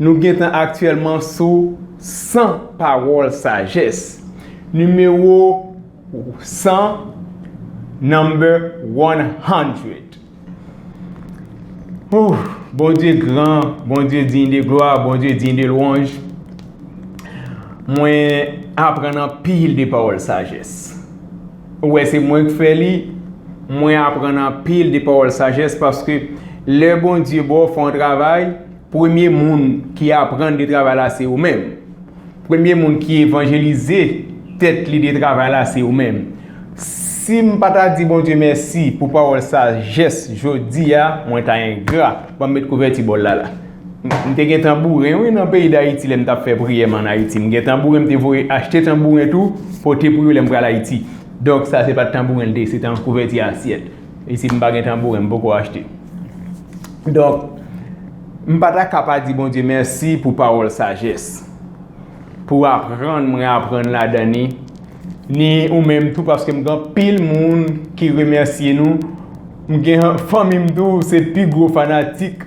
Nou gentan aktyèlman sou 100 pawòl sajès. Nimewo 100, Number one hundred. Hoo, Bondye gran, Bondye diy de glwa, Bondye diy de lwanj. Mwen aprann anpil de pawòl sajès. Ou wè se mwen k fè li, mwen aprann anpil de pawòl sajès paske lè Bondye ba w fè yon travay, Premye moun ki aprann de travay la se ou menm. Premye moun ki evanjelize tèt li de travay la se ou menm. Si m pa ta di Bondye mèsi pou pawòl sajès jodi a, mwen ta engra. Ban m met kouvèti bòl la la. M te gen tanbouren wi nan peyi Dayiti lè m t ap fè priyè m ann Ayiti. M gen tanbouren m te voye achte tanbouren tou pote pou yo lè m pral Ayiti. Donk sa se pa t tanbouren l te ye, se te yon kouvèti asyèt. E si m pa gen tanbouren, m poko achte. Donk, m pa ta ka pa di Bondye mèsi pou pawòl sajès. Pou aprann mwen aprann ladan li. Ni ou menm tou paske m gen anpil moun ki remèsye nou. M gen fanmi m tou se pi gwo fanatik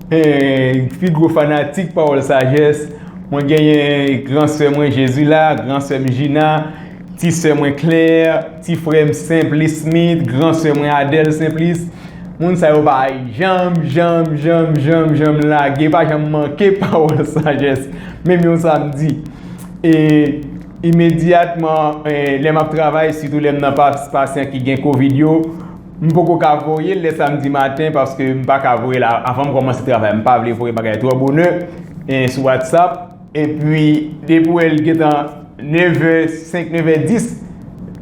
pi gwo fanatik pawòl sajès. Mwen genyen gran sè mwen Jezila, gran sè m Jina, ti sè mwen Klè. Ti frè m Simplice Smith, gran sè mwen Adèle Simplice, moun sa yo pa janm, janm, janm, janm, janm lage, pa janm manke pawòl sajès, menm yon samdi. E, imedyatman, lè m ap travay, sitou lè m nan fas pasyan ki gen covid yo, m poko ka voye l lè samdi maten paske m pa ka voye l avan m kòmanse travay. M pa vle voye bagay twò bonè sou WhatsApp. Epi depi w wè l gentan nevè senk nevè dis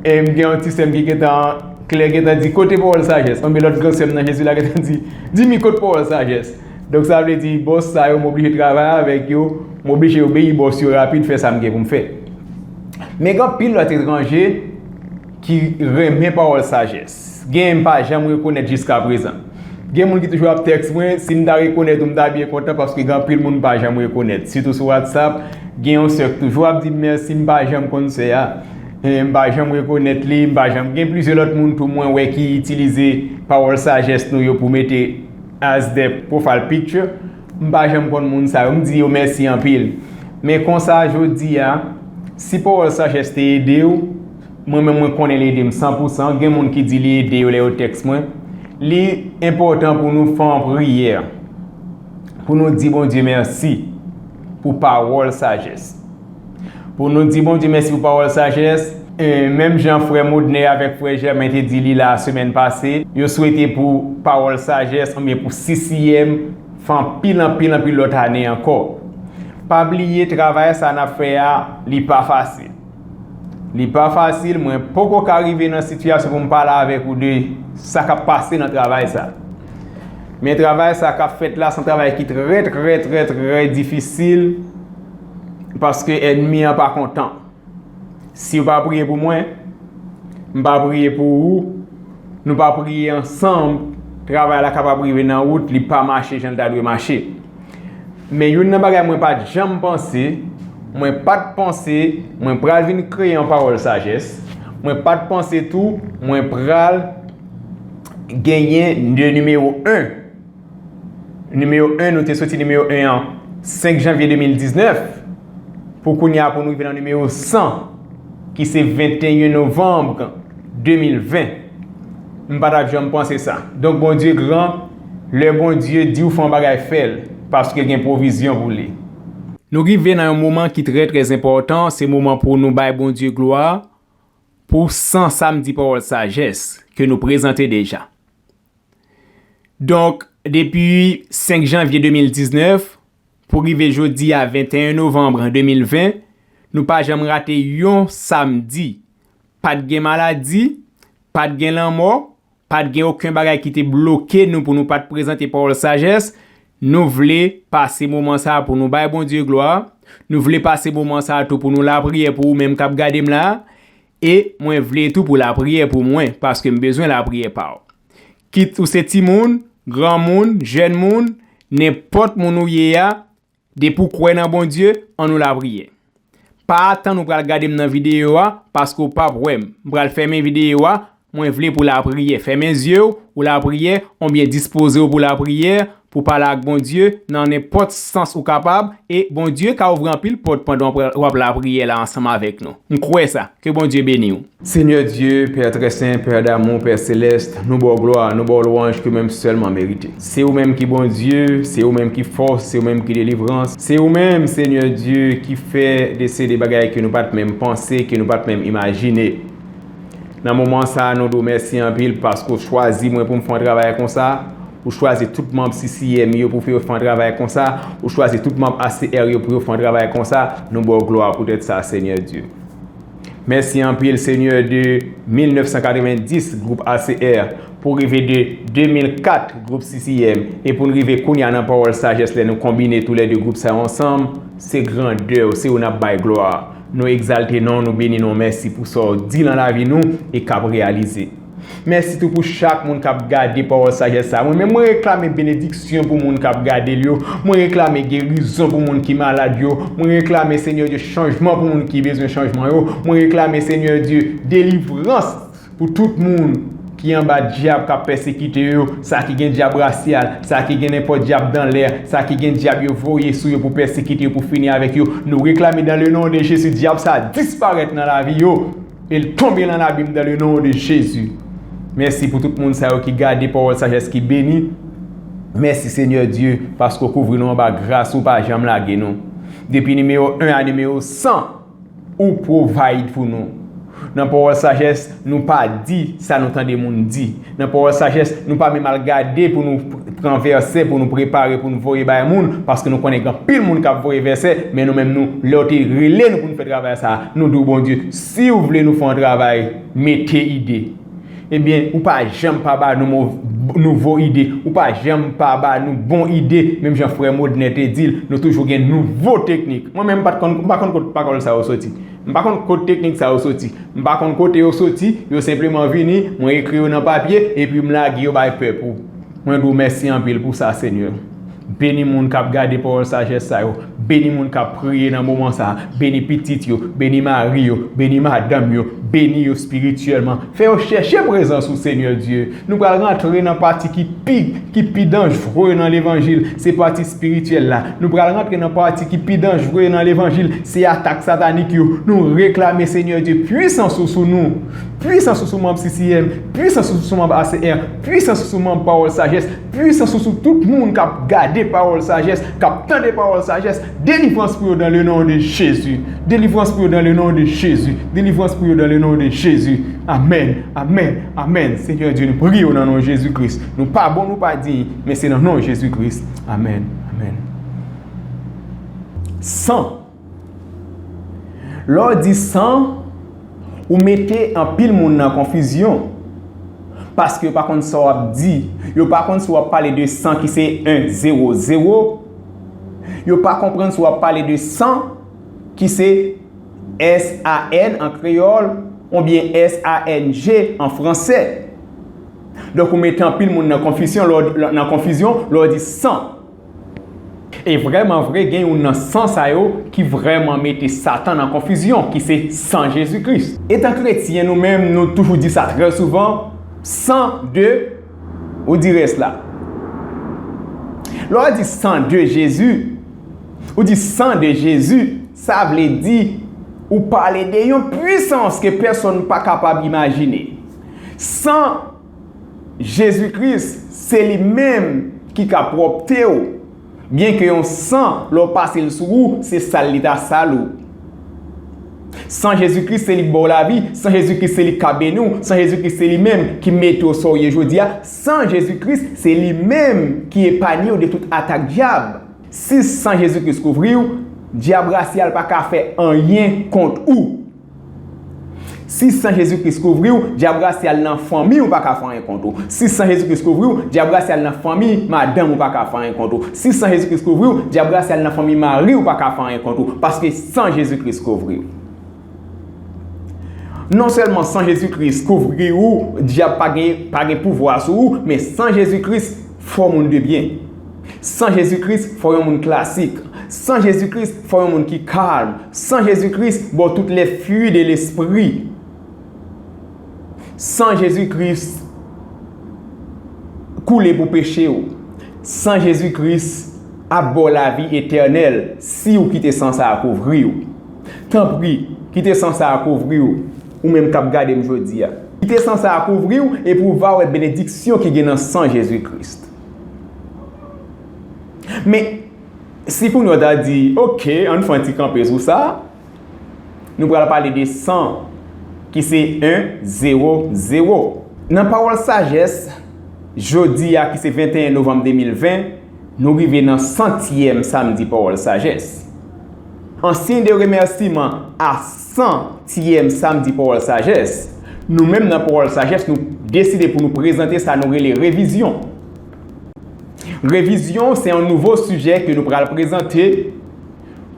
e m gen yon ti sè m ki gentan klè gentan di kote pawòl sajès anben lòt gran sè m nan jezi la gentan di dimi kot pawòl sajès donk sa vle di bòs sa yo m oblije travay avèk yo m oblije obeyi bòs yo rapid fè sa m gen pou m fè men gen anpil lòt etranje Ki renmen pawòl sajès. Genyen m pa janm rekonèt jiskaprezan. Gen moun ki toujou ap tèks mwen, si m ta rekonèt ou m ta byen kontan paske gen anpil moun m pa janm rekonèt. Sitou sou Whatsapp, gen yon sè k toujou ap di m mèsi m pa janm konn sè a. M pa janm rekonèt li, m pa janm gen plizyè lòt moun tou mwen wè ki itilize pawòl sajès nou yo pou mete as their profile picture. M pa janm konn moun sa yo, m di yo mèsi anpil. Men konsa jodi a, si pawòl sajès te ede w, Mwen menm mwen konnen li ede m san pou san, gen moun ki di li ede yo lè yo tèks mwen. Li enpòtan pou nou fè yon priyè, pou nou di Bondye mèsi pou pawòl sajès. Pou nou di Bondye mèsi pou pawòl sajès. Menm jan frè Modnè avèk frè Jèmen te di li la semèn pase, yo swete pou pawòl sajès oubyen pou sisiyèm fè anpil anpil anpil lòt ane ankò. Pa bliye travay sa n ap fè a, li pa fasil. Li pa fasil, mwen poko ka rive nan sitiyasyon pou m pale avèk ou de sa k ap pase nan travay sa. Men travay sa k ap fèt la se yon travay ki trè trè trè trè difisil paske ènmi an pa kontan. Si yo pa priye pou mwen, m pa priye pou ou, nou pa priye ansanm, travay la kapab rive nan wout, li pa mache jan l ta dwe mache. Men youn nan bagay mwen pa t janm panse, mwen pa t panse mwen pral vin kreye yon pawòl sajès, mwen pa t panse tou mwen pral genyen de nimewo 1. Nimewo 1, nou te soti nimewo 1 an 5 janvye 2019. Pou kounye a pou nou rive nan nimewo 100 ki se 21 novanm 2020 m pa tap janm panse sa donk Bondye gran lè Bondye diw fè yon bagay fèl paske gen pwovizyon pou li. Nou rive nan yon moman ki trè trè enpòtan se moman pou nou bay Bondye glwa pou 100 samdi pawòl sajès ke nou prezante deja donk depi 5 janvye 2019 Pou rive jodi a 21 novanm 2020, nou pa janm rate yon samdi. Pa t gen maladi, pa t gen lanmò, pa t gen oken bagay ki te bloke nou pou nou pa t prezante pawòl sajès, nou vle pase moman sa a pou nou bay Bondye glwa, nou vle pase moman sa a tou pou nou lapriyè pou ou menm k ap gade m la, E mwen vle tou pou lapriyè pou mwen paske m bezwen lapriyè pa w. Kit ou se timoun, granmoun, jèn moun, nenpòt moun ou ye a, depi w kwè nan Bondye, an nou lapriyè. Pa atann ou pral gade m nan videyo a paske w pap wè m. M pral fèmen videyo a Mwen vle pou lapriyè. Fèmen zye w ou lapriyè onbyen dispoze w pou lapriyè, pou pale ak Bondye nan nenpòt sans ou kapab e Bondye ka ouvri anpil pòt pandan w ap lapriyè la ansanm avèk nou. M kwè sa. Ke Bondye beni w. Seigneur Dieu, Père très saint, Père d'amour, Père céleste, nou baw glwa, nou baw lwanj ke menm sèlman merite. Se ou menm ki Bondye, se ou menm ki fòs, se ou menm ki delivrans, se ou menm Seigneur Dieu ki fè desede bagay ke nou pat menm panse, ke nou pat menm imajine. Nan moman sa a nou di w mèsi anpil paske w chwazi mwen pou m fè yon travay konsa, ou chwazi tout manb CCM yo pou fè yo fè yon travay konsa, ou chwazi tout manb HCR yo pou yo fè yon travay konsa, nou ba w glwa poutèt sa Senyè Dye. Mèsi anpil Senyè de 1990 gwoup HCR pou rive de 2004 gwoup CCM e pou n rive kounya nan pawòl sajès lè nou konbine tou lè 2 gwoup sa yo ansanm, se grandè w, se ou n ap bay glwa. Nou egzalte non w, nou beni non w, mèsi pou sa w di lan lavi nou e k ap reyalize. Mèsi tou pou chak moun k ap gade pawòl sajès sa a. Mwen menm, mwen reklame benediksyon pou moun k ap gade l yo, mwen reklame gerizon pou moun ki malad yo, mwen reklame Senyè Dye chanjman pou moun ki bezwen chanjman yo, mwen reklame Senyè Dye delivrans. Pou tout moun ki anba dyab kap pèsekite yo, sa ki gen dyab rasyal, sa ki gen nenpòt dyab dan lè, sa ki gen dyab yo voye sou yo pou pèsekite yo pou fini avèk yo, nou reklame dan le non de Jezi dyab sa a disparèt nan lavi yo el tonbe lan labim dan le non de Jezi. Mèsi pou tout moun sa yo ki gade pawòl sajès ki beni. Mèsi Senyè Dye paske ou kouvri nou anba gras ou pa janm lage nou depi nimewo 1 a nimewo 100. Ou provide pou nou. Nan pawòl sajès, nou pa di sa nou tande moun di. Nan pawòl sajès, nou pa menm al gade pou nou pran vèsè pou nou prepare pou nou voye bay moun, paske nou konnen gen anpil moun k ap voye vèsè, men nou menm nou, lè yo te rele nou pou nou fè travay sa a, nou di w Bondye, si w vle nou fè yon travay, mete ide. Ebyen ou pa janm pa ba nou nouvo ide, ou pa janm pa ba nou bon ide, menm jan frè Modnè te di l, nou toujou gen nouvo teknik. Mwen menm m pa konn kot pawòl sa yo soti. M pa konn kot teknik sa yo soti. M pa konn kote yo soti, yo senpleman vini, mwen ekri yo nan papye, epi m lage yo bay pèp ou. Mwen di w mèsi anpil pou sa Senyè. Beni moun k ap gade pawòl sajès sa yo. Beni moun k ap priye nan moman sa a. Beni pitit yo. Beni mari yo. Beni madanm yo. Beni yo espirityèlman. Fè yo chèche prezans ou, Senyè Dye. Nou pral rantre nan pati ki pi, ki pi danjre nan levanjil. Se pati espirityèl la. Nou pral rantre nan pati ki pi danjre nan levanjil. Se atak satanik yo. Nou reklame, Senyè Dye, pwisans ou sou nou. Pwisans ou sou manb CCM. Pwisans ou sou manb ACR. Pwisans ou sou manb pawòl sajès. Pwisans ou sou tout moun kap gade pawòl sajès, kap tande pawòl sajès, delivrans pou yo dan le non de Jezi, delivrans pou yo dan le non de Jezi, delivrans pou yo dan le non de Jezi, amèn, amèn, amèn, Senyè Dye nou priye w nan non Jezi Kris, nou pa bon nou pa diy, men se nan non Jezi Kris, amèn, amèn. San. Lè w di san, ou mete anpil moun nan konfizyon. Paske yo pa konn sa w ap di. Yo pa konn si w ap pale de san ki se 1, 0, 0. Yo pa konprann si w ap pale de san ki se s-a-n an kreyòl oubyen s-a-n-g an franse. Donk ou mete anpil moun nan konfizyon lè w di san. E vrèman vre, gen youn nan san sa yo ki vrèman mete Satan nan konfizyon, ki se san Jezi Kris. Etan kretyen, nou menm, nou toujou di sa trè souvan, San de, ou di rès la. Lè w di San de Jezi, ou di San de Jezi, sa vle di ou pale de yon pwisans ke pèsonn pa kapab imajine. San. Jezi Kris, se li menm ki ka pwòpte ou, byenke yon san lè w pase l sou ou se sal li ta sal ou. San Jezi Kris se li k ba w lavi, san Jezi Kris se li k ka beni w, san Jezi Kris se li menm ki mete w sa w ye jodi a, san Jezi Kris se li menm ki epanye w de tout atak dyab. Si san Jezi Kris kouvri w, dyab rasyal pa ka fè anyen kont ou. Si san Jezi Kris kouvri w, dyab la si al nan fanmi ou pa ka fè anyen kont ou. Si san Jezi Kris kouvri w, dyab la si al nan fanmi madanm ou pa ka fè anyen kont ou. Si san Jezi Kris kouvri w, dyab la si al nan fanmi mari ou pa ka fè anyen kont ou, paske san Jezi Kris kouvri w. Non sèlman san Jezi Kris kouvri ou, dyab pa gen pouvwa sou ou, men san Jezi Kris, Fò moun de byen. San Jezi Kris, fò yon moun klasik. San Jezi Kris, fò yon moun ki kalm. San Jezi Kris, bò tout lè fui de lespri. San Jezi Kris koule pou peche ou. San Jezi Kris ap bò w lavi etènèl si ou kite san sa a kouvri ou. Tanpri, kite san sa a kouvri w, ou menm k ap gade m jodi a. Kite san sa a kouvri w, epi ou va wè benediksyon ki gen nan san Jezi Kris. Men, si kounye a w ta di, Oke, ann fè yon ti kanpe sou sa, nou pral pale de san, ki se 1, zewo, zewo. Nan Pawòl Sajès, jodi a ki se 21 novanm 2020, nou rive nan santyèm samdi Pawòl Sajès. An siy de remèsiman a san tièm Samdi Pawòl Sajès, nou menm nan Pawòl Sajès nou deside pou nou prezante sa nou rele Revizyon. Revizyon se yon nouvo sijè ke nou pral prezante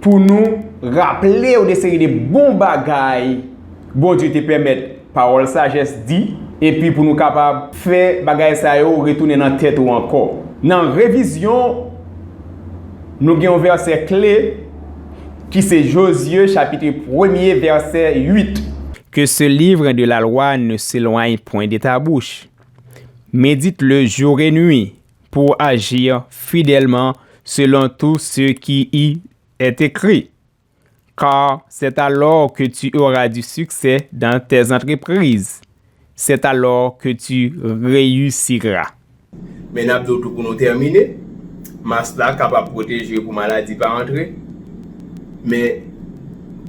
pou nou raple yon de seri de bon bagay Bondye te pèmèt Pawòl sajès di, epi pou nou kapab. Fè bagay sa yo retounen nan tèt ou ankò. Nan revizyon, nou gen yon vèsè kle ki se Jozye chapitre premye vèsè 8. Que ce livre de la loi ne s'éloigne point de ta bouche, médite-le jour et nuit, pour agir fidèlement selon tout ce qui y est écrit. Car c'est alors que tu auras du succès dans tes entreprises, c'est alors que tu reussiras. Men nap diw tou pou nou tèmine, mask la kapab pwoteje pou maladi pa antre, men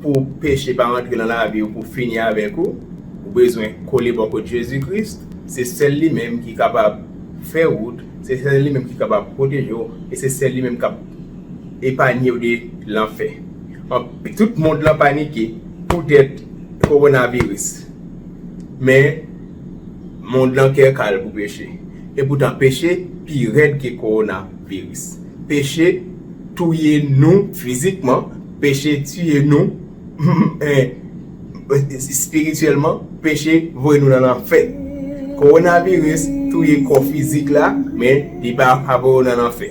pou peche pa antre nan laviw pou fini avèk ou, ou bezwen kole bò kot Jezi Kris, se sèl li menm ki kapab fè wout, se sèl li menm ki kapab pwotejew e se sèl li menm kap. Epanye w de lanfè. Anpi tout mond lan panike poutèt kowonaviris. Men, mond lan kè kal pou peche. Epoutan peche pi rèd ke kowonaviris. Peche touye nou fizikman, peche tiye nou espirityèlman, peche voye nou nan lanfè. Kowonaviris touye kò fizik la, men li pa voye w nan lanfè.